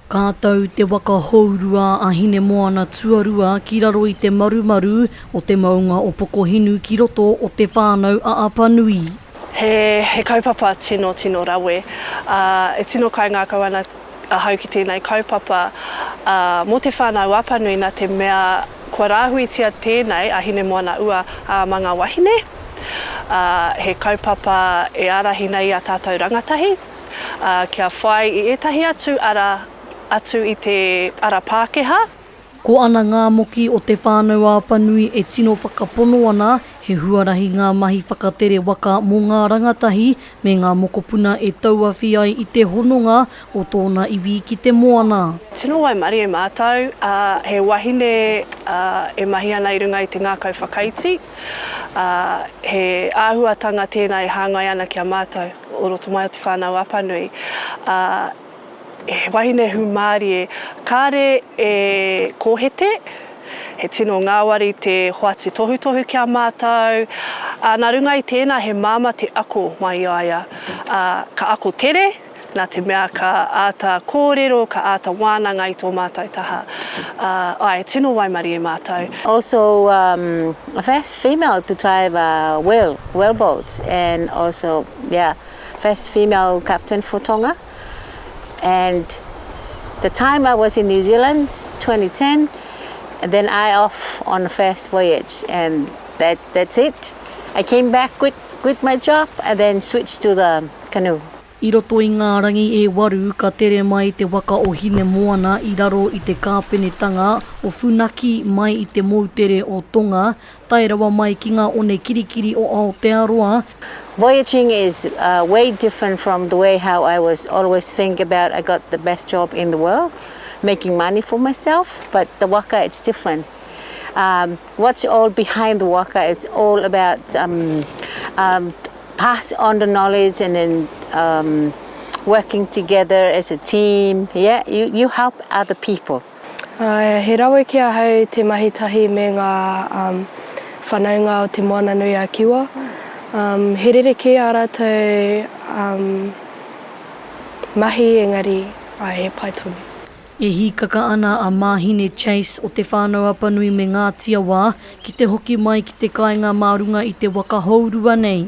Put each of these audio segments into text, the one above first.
Ka tau te waka hourua a Hinemoana Tuarua ki raro i te marumaru o te maunga o Pokohinu ki roto o Te Whānau-a-Apanui. He kaupapa tino tino rawe, ā, e tino kaingākau ana ahau ki tēnei kaupapa mō Te Whānau-a-Apanui nā te mea Kua rāhuitia tēnei a Hinemoana-ua ā Manga Wahine, ā, he kaupapa e ārahi nei i a tātou rangatahi, ā, kia whai i ētahi atu ara atu i te ara Pākehā. Ko ana ngā moki o Te Whānau Apanui e tino whakapono ana, he huarahi ngā mahi whakatere waka mō ngā rangatahi, Me ngā mokopuna e tauawhi ai i te hononga o tōna iwi ki te moana. Tino waimarie e mātou, ā, he wahine, ā, e mahi ana i runga i te ngākau whakaiti, ā, he āhuatanga tēnā e hāngai ana ki a mātou o roto mai o Te Whānau Apanui, ā, He wahine hūmārie kāre e kōhete, he tino ngāwari te hoatu tohutohu ki a mātou, ā, nā runga i tēnā he māmā te ako mai i a ia, ā, ka ako tere, nā te mea ka āta kōrero, ka āta wānanga i tō mātou taha, ā, āe, tino waimarie mātou. Also um first female to drive a whale, whale boat and also yeah. first female captain for Tonga and the time I was in New Zealand 2010 and then I off on the first voyage and that that's it I came back quit quit my job and then switched to the canoe. I roto i ngā rangi e waru ka tere mai te waka o Hinemoana i raro i te kāpenetanga o Funaki mai i te moutere o Tonga Tae rawa mai ki ngā one kirikiri o Aotearoa. Voyaging is way different from the way how I was always think about I got the best job in the world making money for myself but the waka it's different um what's all behind the waka it's all about um um pass on the knowledge and then um working together as a team yeah you you help other people. He rawe ki ahau te mahi tahi me ngā whanaunga o Te Moananui-a-Kiwa. He rerekē ā rātou mahi engari he pai tonu. E hīkaka ana a Māhine Chase o Te Whānau-a-Panui me Ngāti Awā ki te hoki mai ki te kāinga mā runga i te waka hourua nei.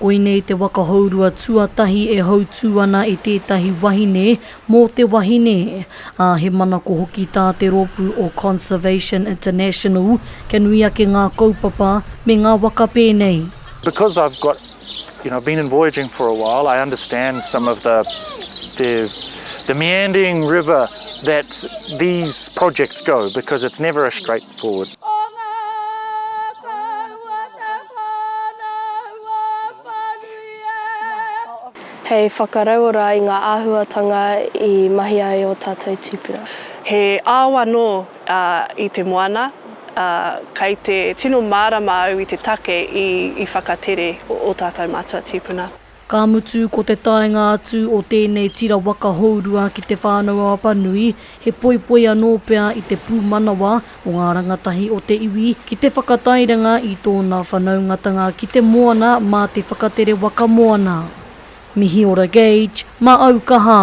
Koinei te waka hourua tuatahi e hautū ana e tētahi wahine mō te wahine, ā, he manako hoki tā te rōpū o Conservation International kia nui ake ngā kaupapa me ngā waka pēnei. Because I've got, you know, been in voyaging for a while, I understand some of the the the meandering river that these projects go because it's never a straight forward. Hei whakarauora i ngā āhuatanga i mahia ai ō tātou tīpuna. He ao anō i te moana, ā, kei te tino mārama au i te take i whakatere ō tātou mātua tīpuna. Ka mutu ko te taenga atu o tēnei tira waka hourua ki Te Whānau-a-Apanui, he poipoi anō pea i te pūmanawa o ngā rangatahi o te iwi ki te whakatairanga i tōna whanaungatanga ki te moana mā te whakatere waka moana. Mihi ora Gage, mā au kaha!